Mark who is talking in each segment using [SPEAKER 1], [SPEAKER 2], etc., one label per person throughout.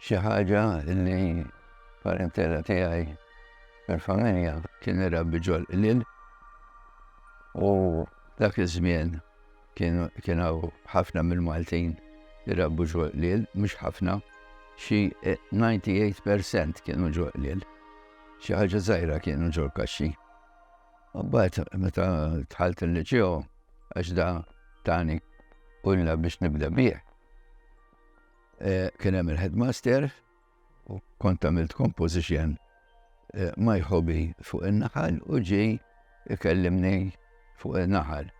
[SPEAKER 1] Xi ħaġa li parentela tiegħi mill-familja kien irabbi ġol-qliel u dak iż-żmien kien hawn ħafna mill-Maltin irabbu ġol-qliel, mhux ħafna, xi 98% kienu ġol-qliel. Xi ħaġa żgħira kienu ġol-kaxxi. U bad meta tħalt il-liċeo għax da tani kulla biex nibda bih. Kien hemm il-headmaster u kont għamilt composition ma jħobi fuq in-naħal u ġi ikellimni fuq in-naħal.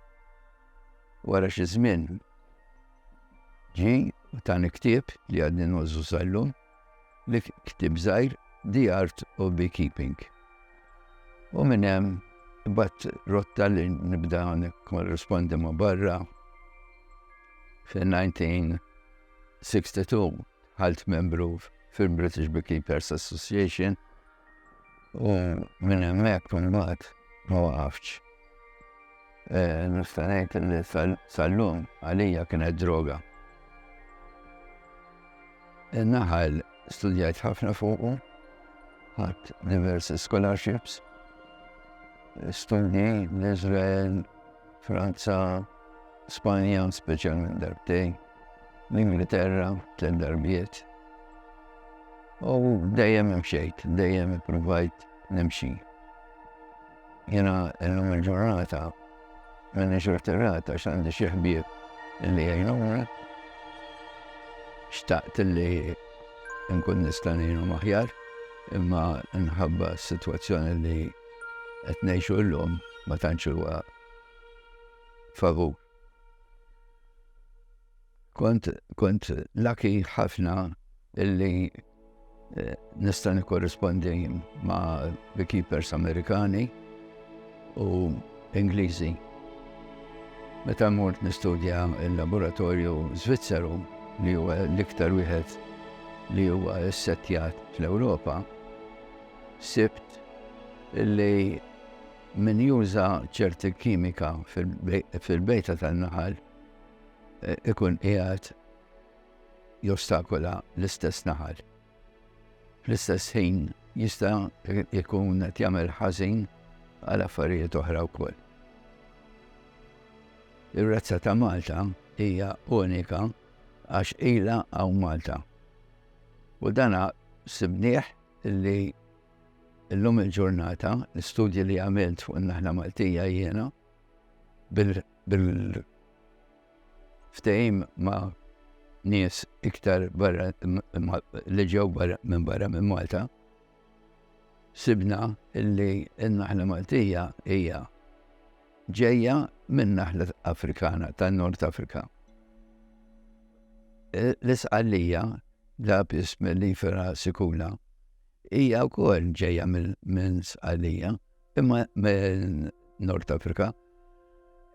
[SPEAKER 1] Wara xi żmien ġi u tani ktieb li għadni nużu sallum Dik ktieb żgħir The Art of Beekeeping. U minn hemm bat rotta li nibda korrespondi ma' barra fil-1962 ħalt membru fil-British Beekeepers Association U minn hemmhekk imbagħad ma waqaftx. Nista' ngħid li sal-lum għalija kienet droga. In-naħal studjajt ħafna fuqu, ħadd diversi scholarships, studji l-Iżrael, Franza, Spanja, speċjalment darbtejn, l-Ingilterra, tliet darbiet. U dejjem imxejt, dejjem ippruvajt nimxi. Jena illum il-ġurnata minni xortirat għax għandi xi ħbieb li jgħinuna. Xtaqt li nkun nista' ngħinu maħjar imma nħabba s-sitwazzjoni li qed ngħixu llum ma tantx huwa favur. Kont kont laki ħafna illi eh, nista' nikkorrispondi ma' beekeepers Amerikani u Ingliżi. Meta mort nistudja il-laboratorju Zvizzeru li huwa l-iktar wieħed li huwa ssettjat fl-Ewropa, sibt li min juża ċerti kimika fil-bejta tan-naħal eh, ikun qiegħed jostakula l-istess naħal. Fl-istess ħin jista' jkun qed jagħmel ħażin għal affarijiet oħra wkoll. Ir-razza ta' Malta hija unika għax ila hawn Malta. U dana sibnieh li l-lum il-ġurnata, l-studji li għamilt fuq naħna Maltija jiena, bil-ftehim ma' nies iktar barra li ġew barra minn barra minn Malta, sibna illi n-naħla Maltija hija ġejja minn naħla Afrikana tan-Nord Afrika. L-isqallija la bism li fera sikula hija wkoll ġejja minn sqallija imma Nord Afrika,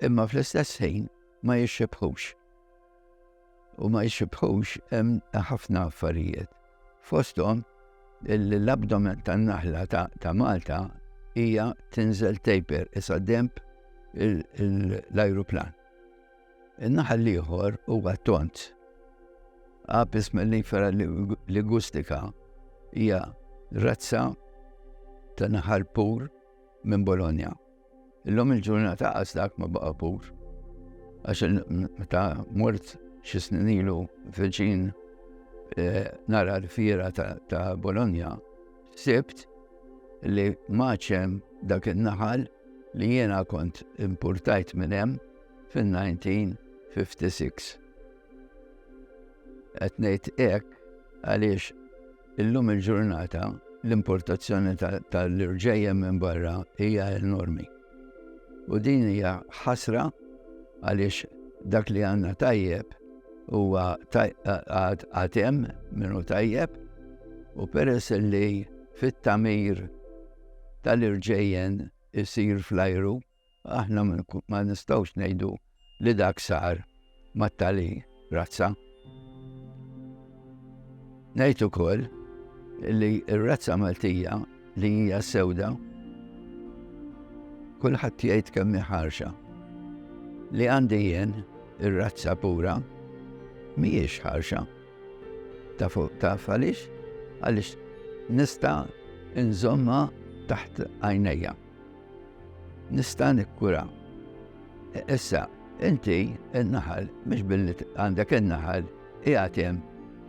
[SPEAKER 1] imma fl-istess ħin ma jixxibħux. U ma jixxibħux hemm ħafna affarijiet. Fosthom l-abdomen tan-naħla ta' Malta hija tinżel taper isa demp l-ajruplan. In-naħal l-ieħor huwa t-tont. Apis mellifera ligustica hija razza ta' naħal pur minn Bologna. Illum il-ġurnata qas dak ma baqa' pur. Għax meta mort xi snin ilu viċin eh, nara l-fiera ta' Bologna, sibt li maċem dak in-naħal li jiena kont importajt minn hemm fin-1956. Qed ngħid hekk għaliex illum il-ġurnata l-importazzjoni tal-irġejjem minn barra hija enormi. U din hija ħasra għaliex dak li għandna tajjeb huwa għatem minnu tajjeb u peress li fit-tamir tal-irġejjen isir fl-ajru Aħna ma nistgħux ngħidu li dak sar mat-tali razza. Ngħid ukoll li r-razza Maltija li hija sewda kulħadd jgħid kemm ħarxa. Li għandi jien ir-razza pura mhijiex ħarxa. Ta' fuq ta' għaliex għaliex nista' nżomma taħt għajnejja. Nista' nikkura. Issa, inti n-naħal, mhux billi għandek in-naħal, qiegħed hemm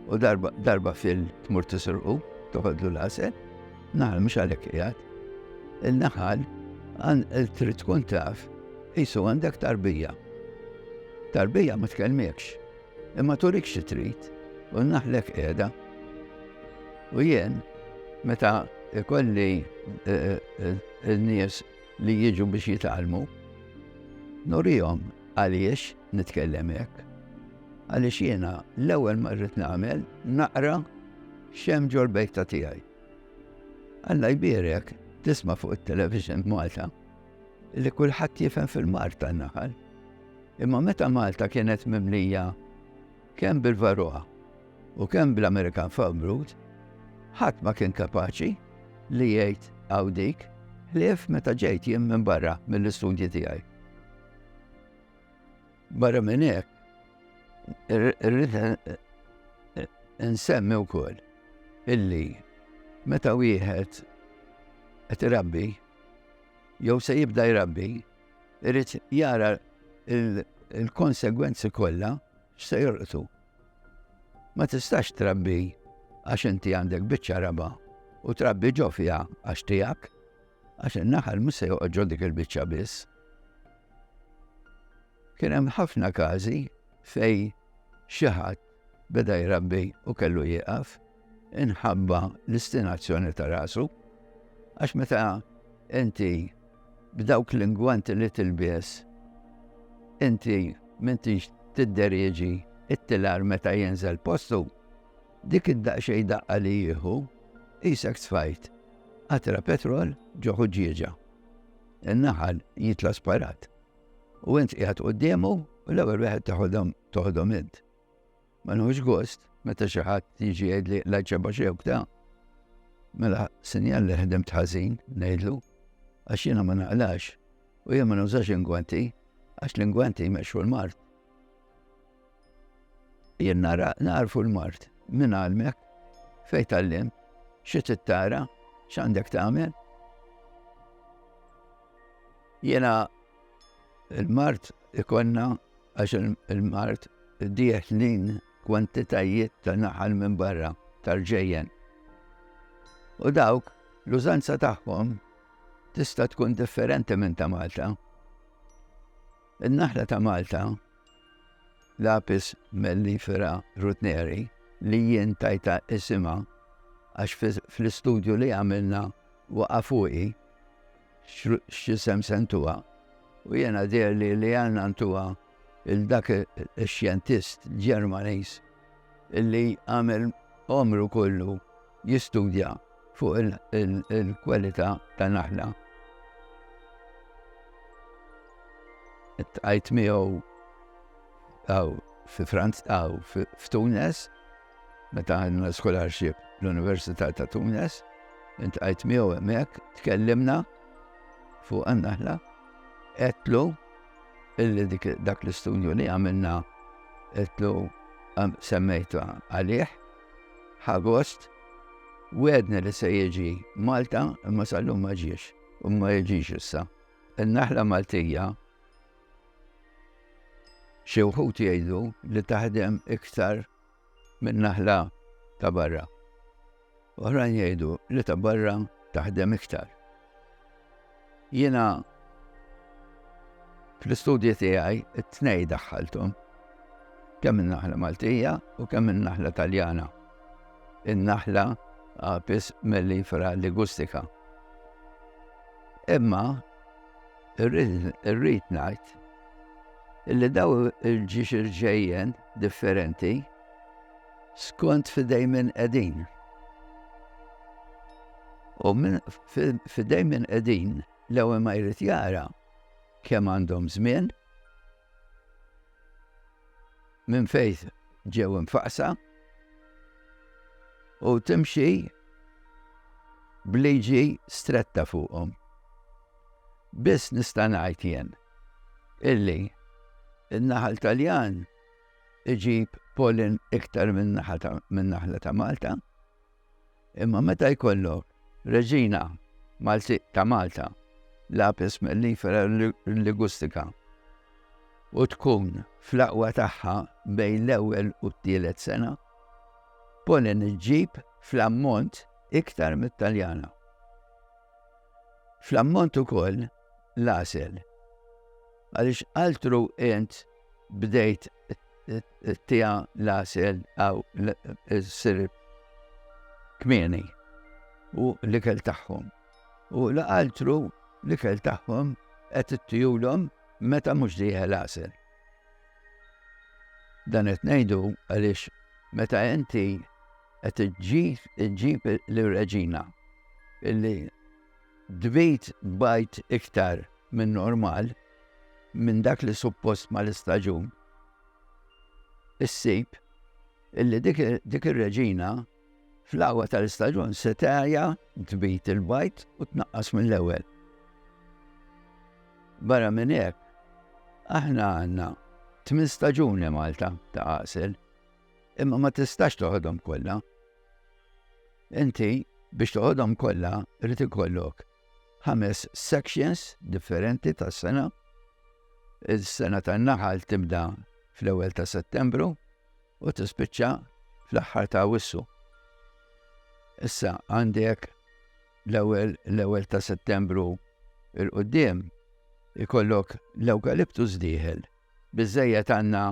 [SPEAKER 1] u darba fil tmur tisrqu, toħodlu l-għasel, naħal mhux għalhekk qiegħed. Il-naħal trid tkun taf qisu għandek tarbija. Tarbija ma tkellmekx. Imma turik xi trid, u n-naħlek qiegħda. U jien, meta ikolli n-nies li jiġu biex jitgħallmu, nurihom għaliex nitkellem hekk. Għaliex jiena l-ewwel ma rrid nagħmel naqra x'hemm ġol-bejta tiegħi. Alla jbierek tisma' fuq it-television b'Malta. li kulħadd jifhem fil-mar tan-naħal. Imma meta Malta kienet mimlija kemm bil-Varroa u kemm bl-Amerikan Farmroot, ħadd ma kien kapaċi li jgħid għaw dik ħlief meta ġejt jien minn barra mill-istudji tiegħi. Barra minn hekk, irrid nsemmi wkoll illi meta wieħed qed irabbi jew se jibda jrabbi, irid jara il-konsegwenzi kollha x'se jolqtu. Ma tistax trabbi għax inti għandek biċċa raba u trabbi ġo fiha għax tiegħek, għax in-naħal mhux se joqgħod ġo dik il-biċċa biss. Kien hemm ħafna każi fejn xi ħadd beda jrabbi u kellu jieqaf inħabba l-istinazzjoni ta' rasu għax meta inti b'dawk l-ingwanti li tilbies inti m'intix tidderieġi it-tilar meta jinżel postu dik id-daqxej daqqa li jieħu isek tfajt qatra petrol ġoħu ġieġa. In-naħal jitla sparat. U int qiegħed quddiemu u l-ewwel wieħed teħodhom toħodhom int. Ma nħux gost meta xi ħadd jiġi jgħidli l-għajċeba xewk ta' mela sinjal li ħedem tħażin ngħidlu għax jiena ma naqlax u jien ma nużax ingwanti għax l-ingwanti jmexxu l-mart. Jien nara, nagħrfu l-mard minn għalmek, fejn tgħallimt, xi trid tara, x'għandek tagħmel. Jiena l-mard ikonna għax il-mard dieħlin kwantitajiet ta' naħal minn barra tal-ġejjen. U dawk l-użanza tagħhom tista' tkun differenti minn ta' Malta. In-naħla ta' Malta l-Apis mellifera rutneri, li jien tajtha isimha għax fl-istudju li għamilna waqa' fuqi x'isem se ntuha, u jiena dherli li għandna ntuha 'l dak ix-xjentist Ġermaniż li għamel għomru kollu jistudja fuq il-kwalità ta' naħla. Tqajt miegħu għaw fi Franz għaw f'Tunes, meta għandna scholarship l-Università ta' Tunes, intqajt miegħu hemmhekk, tkellimna fuq għannaħla, etlu illi dak l-istudju li għamilna etlu semmejtu għalih Ħagost wedna li se jiġi Malta imma sal-lum ma ġiex u ma jiġix issa. Il-naħla Maltija xi wħud jgħidu li taħdem iktar minn naħla ta' barra. Oħrajn jgħidu li ta' barra taħdem iktar. Jiena fl-istudji tiegħi t-tnejn daħħalthom, kemm in-naħla Maltija u kemm in-naħla Taljana, in-naħla Apis mellifera ligustica. Imma irrid ngħid illi daw il-ġiex irġejjen differenti Skont fidej min qegħdin. U min fidej min qegħdin l-ewwel ma jrid jara kemm għandhom żmien minn fejt ġew infaqsa u timxi bliġi stretta fuqhom. Biss nista' ngħid jien illi in-naħal Taljan iġib pollen iktar min-naħla ta' Malta, imma meta jkollok reġina Malti ta' Malta, l-apis mellifera ligustika, u tkun fl-aqwa tagħha bejn l-ewwel u t-tielet sena, pollen iġib fl-ammont iktar mit-Taljana. Fl-ammont ukoll l-għasel, għaliex altru int bdejt tija l-asel għaw s-sir kmini u l-ikel taħħom. U l-altru l-ikel taħħom għet t-tijulom meta mux diħe l-asel. Dan għet nejdu għalix meta inti għet ġib l-reġina illi dbit bajt iktar minn normal minn dak li suppost mal-istaġun, issib illi dik ir-reġina fl-aħwa tal-istaġun se tagħja tbid il-bajd u tnaqqas mill-ewwel. Barra minn hekk, aħna għandna tmien staġuni Malta ta' għasel, imma ma tistax toħodhom kollha. Inti biex toħodhom kollha rrid ikollok ħames sections differenti tas-sena. Is-sena tan-naħal tibda fl-ewwel ta' Settembru u tispiċċa fl-aħħar ta' Awwissu. Issa għandek l-ewwel l-ewwel ta' Settembru il-qudiem ikollok l-ewkaliptus dieħel Biżżejjed għandna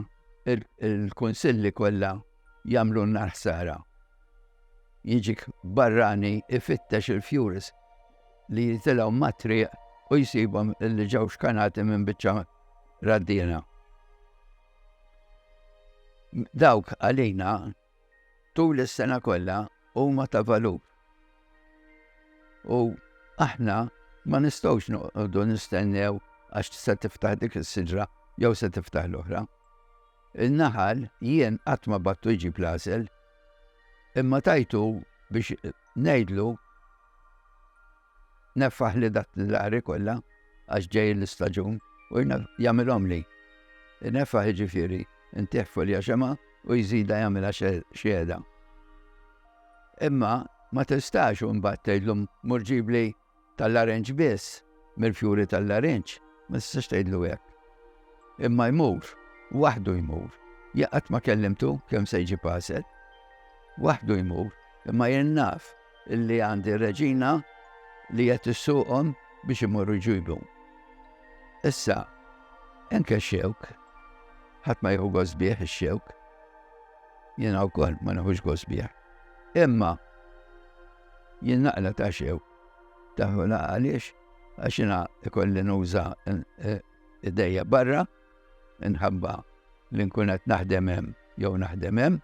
[SPEAKER 1] l-kunsilli kollha jagħmlulna l-ħsara. Jiġik barrani ifittex il-fjurs li jitilgħu mat-triq u jsibhom li ġew xkanati minn biċċa raddiena. Dawk għalina Tul is-sena kollha huma ta' valur u aħna ma nistgħux noqogħdu nistennew għax se tiftaħ dik is-siġra jew se tiftaħ l-oħra. In-naħal jien qatt ma battu jġib l-għasel, imma tajtu biex ngħidlu Neffaħli dak l-għari kollha għax ġej l-istaġun u jagħmilhomli. Ineffaħ jiġifieri ntih folja xemgħa u jżidha jagħmilha xhieda. Imma ma tistax imbagħad tgħidlu mur ġibli tal-larenġ biss mill-fjuri tal-larenġ, ma tistax tgħidlu hekk. Imma jmur, waħdu jmur, jaqgħad ma kellimtu kemm se jġib għasel. Waħdu jmur, imma jien naf li għandi reġina li qed issuqhom biex imorru jġibu. Issa, enke xewk, ħadd ma jieħu gosbieħ ix-xewk. Jiena wkoll ma neħux gosbieħ. Imma jien naqla ta' xewk. Taħu għaliex għax jiena ikolli nuża eh, idejja barra, inħabba li nkun qed naħdem hemm jew naħdem hemm.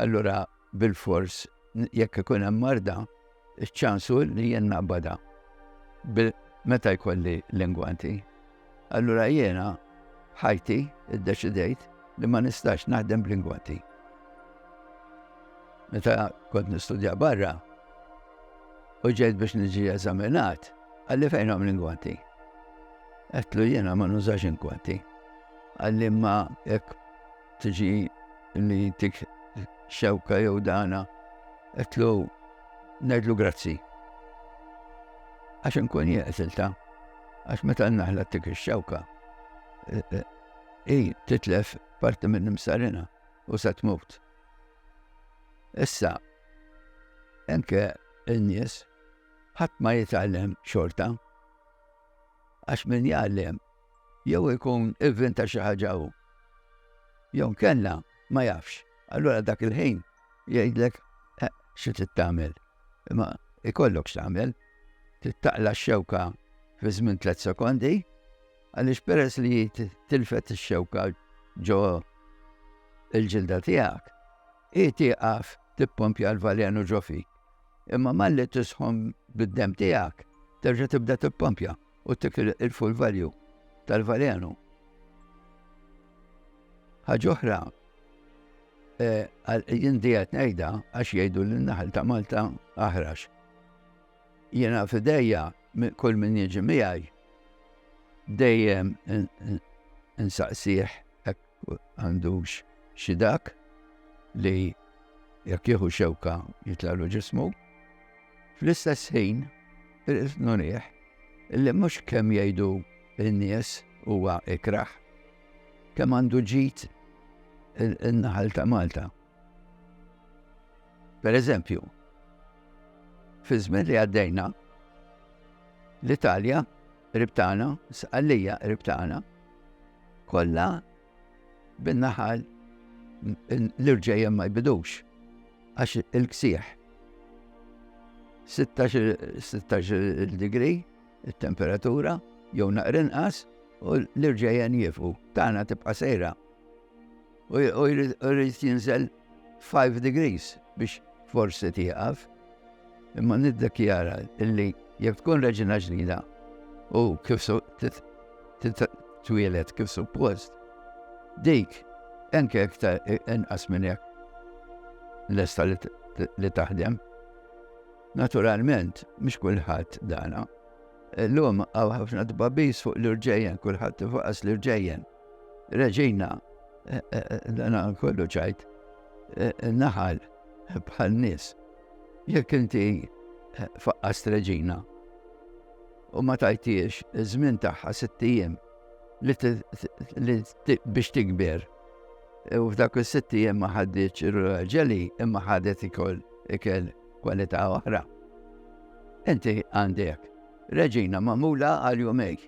[SPEAKER 1] Allura bilfors jekk ikun hemm marda, iċ-ċans hu li jien naqbadha meta jkolli l-ingwanti. Allura jiena f'ħajti ddeċidejt li ma nistax naħdem bl-ingwanti. Meta kont nistudja barra u ġejt biex niġi eżaminat, għalli fejn għam l-ingwanti. Għetlu jiena ma nużax ingwanti. Għalli ma jekk tiġi li jintik xewka jew dana, etlu nedlu grazzi. Għax nkun jeqsilta, għax meta naħla tik xewka, e, e, i titlef parti minn imsarina u se tmut. Issa, enke n-nies, ħadd ma jitgħallem xorta, għax min jgħallem Jew ikun ivvinta xi ħaġa hu. Jew inkella ma jafx. Allura dak il-ħin jgħidlek eh, xi trid tagħmel. Imma ikollok x'tagħmel. Trid taqla x-xewka fi żmien tliet sekondi għaliex peress li tilfet ix-xewka ġo il-ġilda tiegħek, hi tieqaf tippompja l-valenu ġo fik. Imma malli tisħon bid-dem tiegħek, terġa' tibda tippompja. U dik il-full value tal-valenu. Ħaġoħra, eh, jien dijat nejda għax jgħidu l-naħal ta' Malta aħrax. Jena fideja kull min jieġi miegħi dejjem insaqsih għandux xi dak li jekk jieħu xewka jitlalu ġismu. Fl-istess ħin, irrid nurih illi mhux kemm jgħidu n-nies huwa ikraħ, kemm għandu ġid in-naħal ta' Malta. Per eżempju, fi żmien li għaddejna, l-Italja Qrib tagħna, Sqallija qrib tagħna, kollha bin-naħal l-irġejjem ma jbidux għax il-ksieħ 16 digri il-temperatura jew naqrinqas u l-irġejjen jifu tagħna tibqa' sejra u jrid jinżel 5 degrees biex forsi tieqaf. Imma niddekjara illi jekk tkun reġina ġdida u kif twieled kif suppost, dik enke iktar inqas minn hekk lesta li taħdem. Naturalment, mhux kulħadd dana. Illum hawn ħafna tbabis fuq l-irġejjen, kulħadd tifaqas l-irġejjen. Reġina, eh, eh, eh, dana kollu ċajt, naħal bħal nis. Jekk inti faqqas reġina u ma tajtiex żmien tagħha sittijiem biex tikber. U f'dak is-sittijiem ma ħaddiċ ir-raġeli imma ħadet ikoll ikel kwalità oħra. Inti għandek reġina mamula għal jumej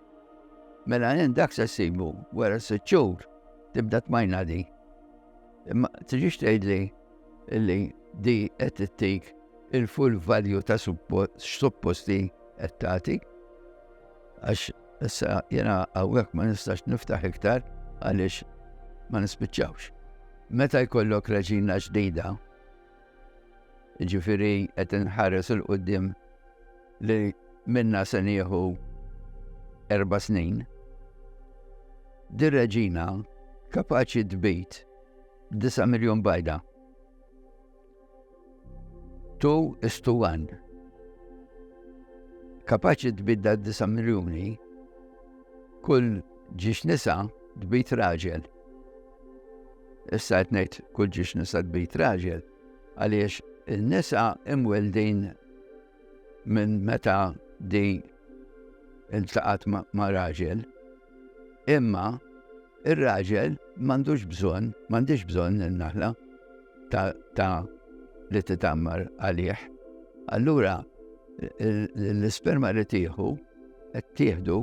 [SPEAKER 1] Mela jien dak se ssibu wara sitt xhur tibda tmajna di. Imma tiġix tgħidli li di qed tittik il-full value ta' supposti qed tagħti. Għax issa jiena hawnhekk ma nistax niftaħ iktar għaliex ma nispiċċawx. Meta jkollok reġina ġdida, ġifiri qed inħares il-qudiem li minna se nieħu erba snin, di reġina kapaċi tbit 9 miljon bajda. Tu istuwan. Kapaċi tbidda 9 miljoni kull ġiex nisa tbit raġel. Issa qed kull ġiex nisa tbit raġel għaliex il-nisa imweldin minn meta di iltaqat ma' raġel, imma ir-raġel m'għandux bżonn, m'għandix bżonn il-naħla ta' li titammar għalih. Allura l-isperma li tieħu qed tieħdu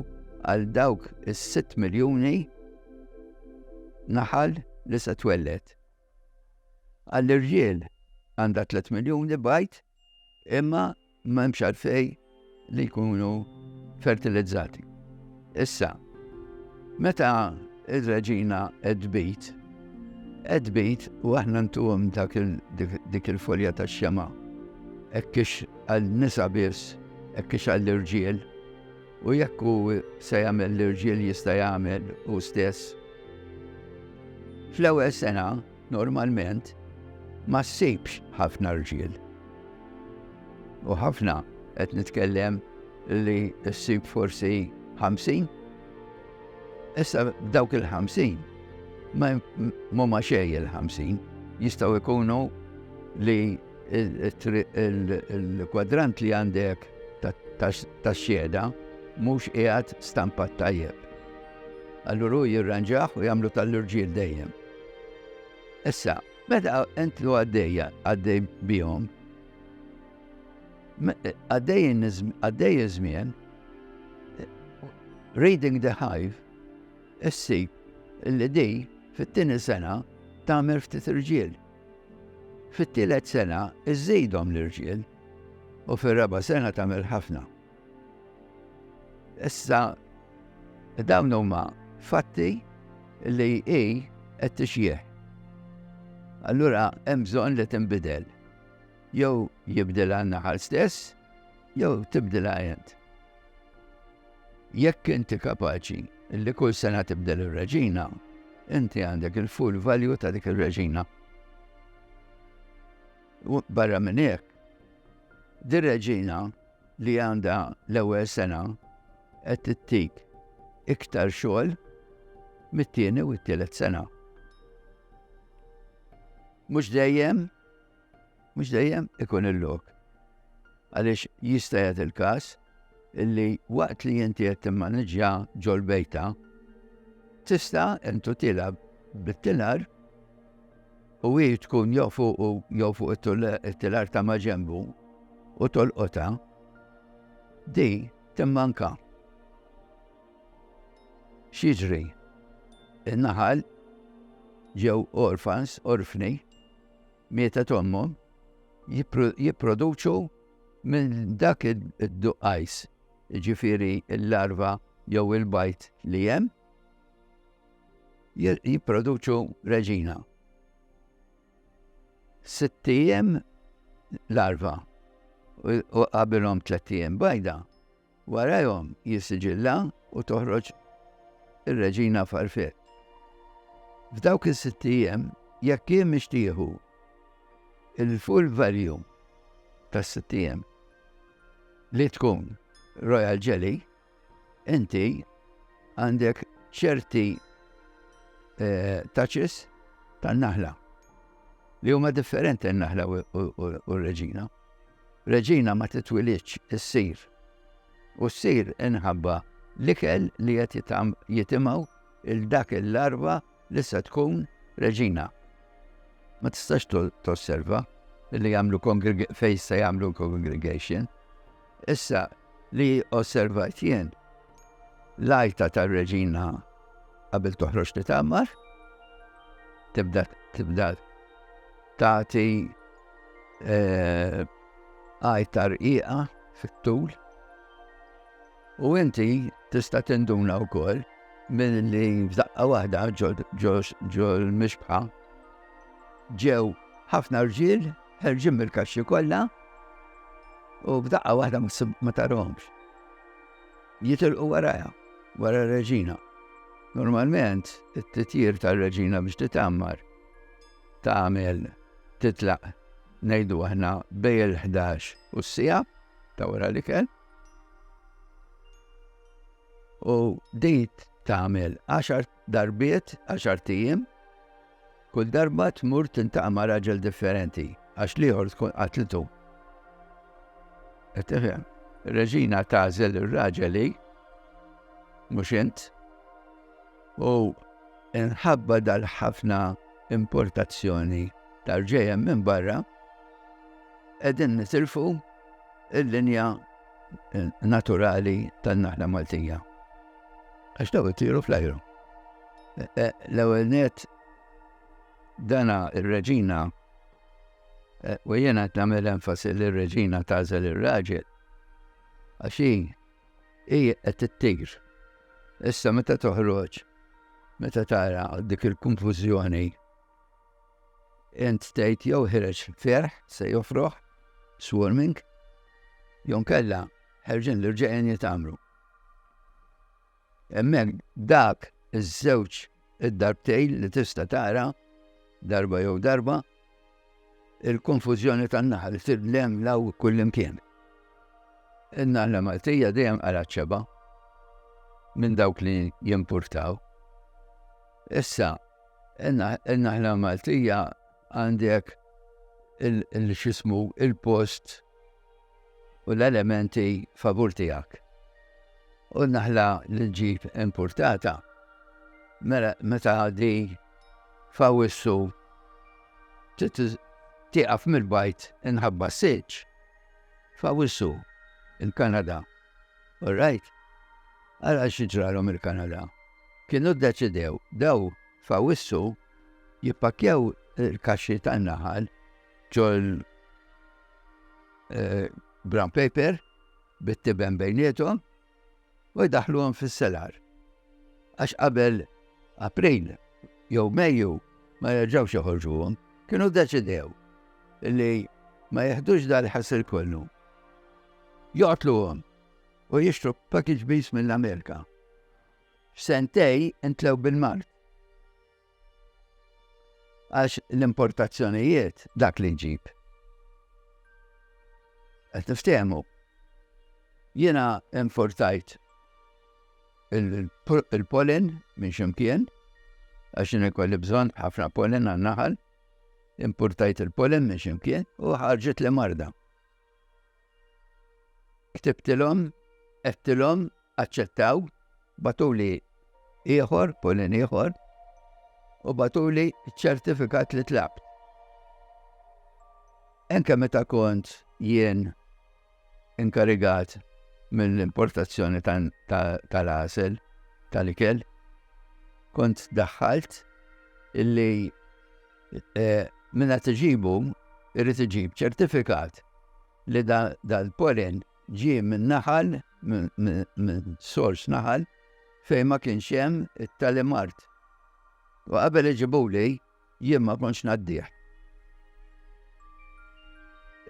[SPEAKER 1] għal dawk is-6 miljuni naħal li se twellet. Għall-irġiel għandha 3 miljuni bajt Imma m'hemmx għalfejn li jkunu fertilizzati. Issa, meta ir-reġina qed tbid, qed tbid u aħna ntuhom dik il-folja tax-xema' hekk kiex għal nisa biss, hekk kiex għall irġiel u jekk hu se jagħmel l-irġiel jista' jagħmel hu stess. Fl-ewwel sena Normalment ma ssibx ħafna rġiel. U ħafna qed nitkellem li ssib forsi 50. Issa dawk il-50 ma ma xej il-50 jistgħu jkunu li il-kwadrant li għandek ta' xjeda mhux qiegħed stampat tajjeb. Allura jirranġaħ u jagħmlu tal-irġiel dejjem. Issa, meta entru għaddejja, għaddej bihom, għaddej iż-żmien, Reading the Hive, issib li di fit-tieni sena tagħmel ftit irġiel. Fit-tielet sena iżidhom l-irġiel u fir-raba' sena tagħmel ħafna. Issa dawn huma fatti li hi qed tixjieħ. Allura hemm bżonn li tinbidel. Jew jibdilha n-naħal stess, jew tibdilha int. Jekk inti kapaċi li kull sena tibdel ir-reġina, inti għandek il-full value ta' dik ir-reġina. Barra minn hekk, dir-reġina li għandha l-ewwel sena qed tittik iktar xogħol mit-tieni u t-tielet sena. Mhux dejjem, mhux dejjem ikun il-lok. Għaliex jista' jgħid il-każ illi waqt li inti qed timmaniġġja ġol bejta, tista' intu tilab bit-tilar u hi tkun jew fuqu jew fuq it-tilar ta' maġenbu u tolqota, di timmanka. X'jiġri? In-naħal ġew orfans, orfni, mietet ommhom, jipproduċu minn dak id-duqqajs, ġifiri l-larva jew il-bajt li hemm, jipproduċu reġina. Sitt ijiem larva u qabilhom tliet ijiem bajda, warajhom jissiġilla u toħroġ ir-reġina farfiet. F'dawk is-sitt ijiem jekk hi mhix tieħu il-full value tas-sitt ijiem li tkun royal jelly, Inti għandek ċerti taċis tan-naħla li huma differenti n-naħla u r-reġina. Reġina ma titwilidx issir u ssir inħabba l-ikel li qed jitimgħu il dak il-larva li se tkun reġina. Ma tistax tosserva li jagħmlu fejn se jagħmlu congregation Issa, li osservajt jien, l-għajta tar-reġina qabel toħroġ li tagħmar, tibda tibda tagħti eh, għajta rqiqa fit-tul. U inti tista' tinduna wkoll milli f'daqqa waħda ġol mixbħa ġew ħafna rġiel Ħerġin mill-kaxxi kollha u b'daqqa waħda ma tarhomx. Jitilqu warajha, wara r-reġina. Normalment, it-titjir tal-reġina biex titammar tagħmel titlaq ngħidu aħna bej il-11 u s-sija ta' wara li kell. U dejt tagħmel 10 Darbiet, għaxart ijiem, kull darba tmur tintaqa' ma' raġel differenti għax l-ieħor tkun qatlitu. Qed tifhem? Reġina tagħżel ir-raġel hi mhux int. U inħabba dal-ħafna importazzjoni tal-ġejjem minn barra qegħdin nitilfu il-linja naturali tan-naħla Maltija. Għax daw ittiru fl-ajru. E, e, l-ewwel net dana ir-reġina e, u jiena qed nagħmel enfasi li r-reġina tażel ir-raġel għax hi hi qed ittir. Issa meta toħroġ meta tara dik il-konfużjoni Int tgħid jew ħireġ ferħ se jofroħ, swarming, jew nkella ħerġin l-irġiegħin jitgħammru. Hemmhekk dak iż-żewġ id-darbtejn li tista' tara darba jew darba il-konfużjoni tan-naħal tidlem law kullimkien. In-naħla Maltija dejjem għal ċeba minn dawk li jimpurtaw. Issa, In-naħla Maltija għandek il-xismu il-post u l-elementi favur tiegħek. U n-naħla li ġib importata mela meta għaddi fawissu tiqaf mill-bajt inħabba s-siċ. Fawissu il-Kanada. All right? Għala xieġralhom il-Kanada. Kienu ddeċidew daw f'Awwissu jippakkjaw il-kaxxi tan-naħal ġol brown paper bit-tiben bejniethom u jdaħħluhom fis-selar għax qabel April jew Mejju ma jerġgħux joħorġuhom. Kienu ddeċidew li ma jeħdux dal-ħasil kollu. Joqtluhom u jixtru package bees mill-Amerika. f'sentej intlew bil-mard. Għax l-importazzjonijiet dak li ġib. Qed niftehmu. Jiena importajt il-pollen minn ximkien, għax jien ikolli bżonn ħafna pollen għan-naħal, importajt il-pollen minn ximkien u ħarġet li marda. Ktibtilhom, għedtilhom, aċċettaw, batuli ieħor, polin ieħor, u batuli ċertifikat li tlabt. Enke meta kont jien inkarigat mill-importazzjoni tal-għasel tal-ikel, kont daħħalt illi Min qed iġibu jrid iġib ċertifikat li dal-polen ġie minn naħal, minn sors naħal fejn ma kienx hemm it-tali mard. U qabel iġibuli jien ma kontx ngħaddih.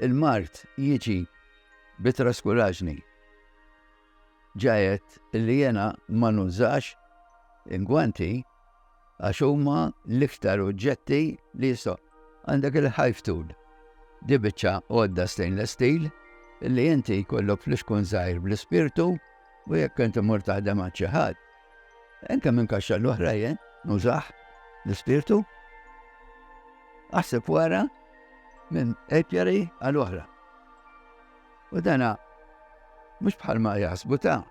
[SPEAKER 1] Il-mard jiġi bit-traskuraġni. ġa għedt li jiena ma nużax ingwanti għax huma l-iktar oġġetti li jistgħu. Għandek il-hive tool. Di biċċa għodda stainless steel li inti jkollok fl-ixkun żgħir bl-ispirtu u jekk inti mur taħdem għal xi ħadd. Enka minn kaxxa l-oħra jien nużax l-ispirtu. Aħseb wara minn epjari għal oħra. U dana mhux bħalma jaħsbu ta'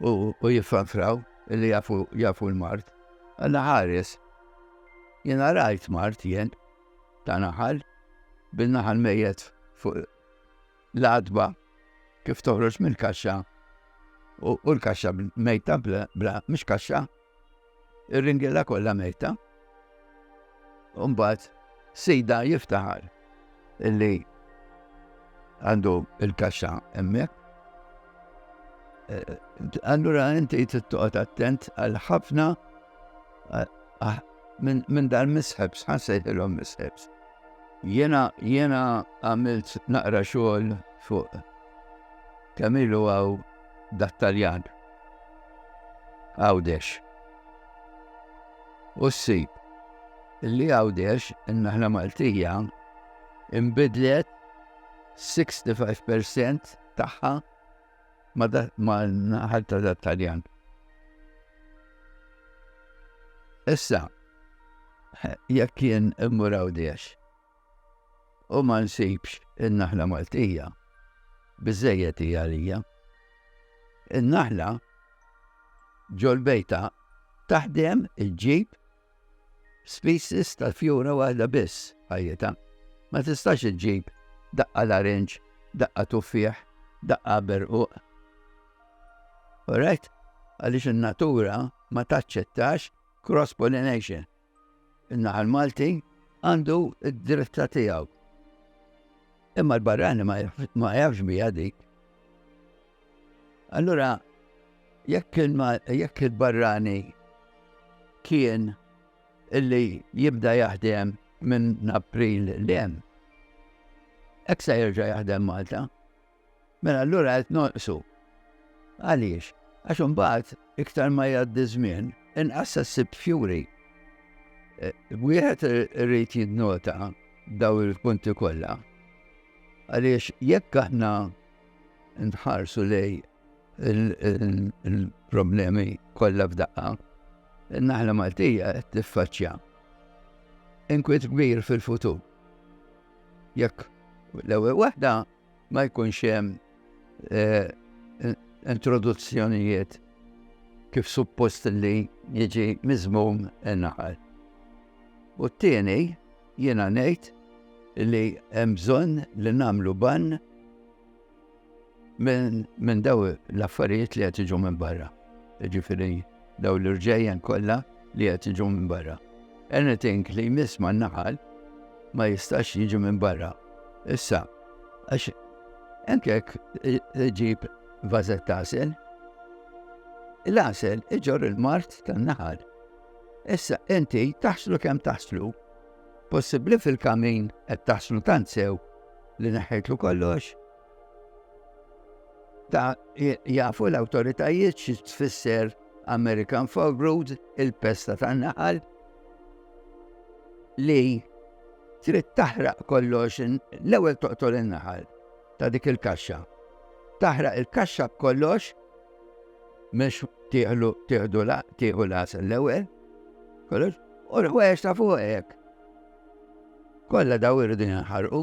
[SPEAKER 1] u jiffanfraw li jafu jafu l-mart. Alla ħares. Jena rajt mart jen ta' naħal bil-naħal mejet fuq l-adba kif toħroġ mill-kaxxa u l-kaxxa mejta bla, mhux kaxxa, Ir-ringiela kollha mejta. U mbagħad sida jiftaħar illi għandu il-kaxxa hemmhekk. Eh, allura inti tittoqgħod attent għal ħafna eh, ah, minn dan misħebs, ħansejħilhom misħebs. Jena, jena għamilt naqra xogħol fuq kamilu għaw dat-Taljan Għawdex. U ssib li Għawdex in-naħla Maltija imbidlet 65% tagħha ma' naħal ta' dat-Taljan. Issa, jekk kien immur Għawdex, u ma nsibx in-naħla Maltija, biżżejjed hi għalija. In-naħla ġol-bejta taħdem iġġib species tal-fjura waħda biss ħajjita. Ma tistax iġġib daqqa larinġ, daqqa tuffieħ, daqqa berquq. Alright? Għaliex in-natura ma taċċettax cross-pollination. In-naħal Malti għandu d-dritta tiegħu. Imma l-barrani ma jafx bija dik. Allura, jekk il-barrani kien illi jibda jaħdem minn April l-em, eksa jirġa jaħdem Malta. Mela allura qed nonqsu. Għaliex? Għax imbagħad iktar ma jgħaddi żmien, inqas se ssib fjuri. E, wieħed irid jinnota daw il-punti kollha. Għaliex jekk aħna nħarsu lej il-problemi kollha f'daqqa, naħla Maltija qed tiffaċċja inkwiet kbir fil-futur. Jekk l-ewwel waħda Ma jkunx hemm introduzzjonijiet kif suppost li jiġi miżmum in-naħal. U t-tieni jiena ngħid li hemm bżonn li nagħmlu bann minn daw l-affarijiet li qed jiġu minn barra. Ġifieri daw l-irġejjen kollha li qed jiġu minn barra. Anything li jmiss ma' naħal ma jistax jiġi minn barra. Issa, għax enkek ġib vazet tasel, l-asel iġor il-mart tan-naħal. Issa, inti taħslu kem taħslu, possibli fil-kamin qed taħslu tant sew li neħħejtlu kollox, Ta' jafu l-awtoritajiet xi tfisser American Fogrood, il-pesta tan-naħal, li trid taħraq kollox, l-ewwel toqtol in-naħal ta' dik il-kaxxa. Taħraq il-kaxxa b'kollox, mhux tieħlu tieħdu la tieħu las l-ewwel, kollox, u l-ħwejjex ta' fuqek. Kollha daw irridu jinħarqu.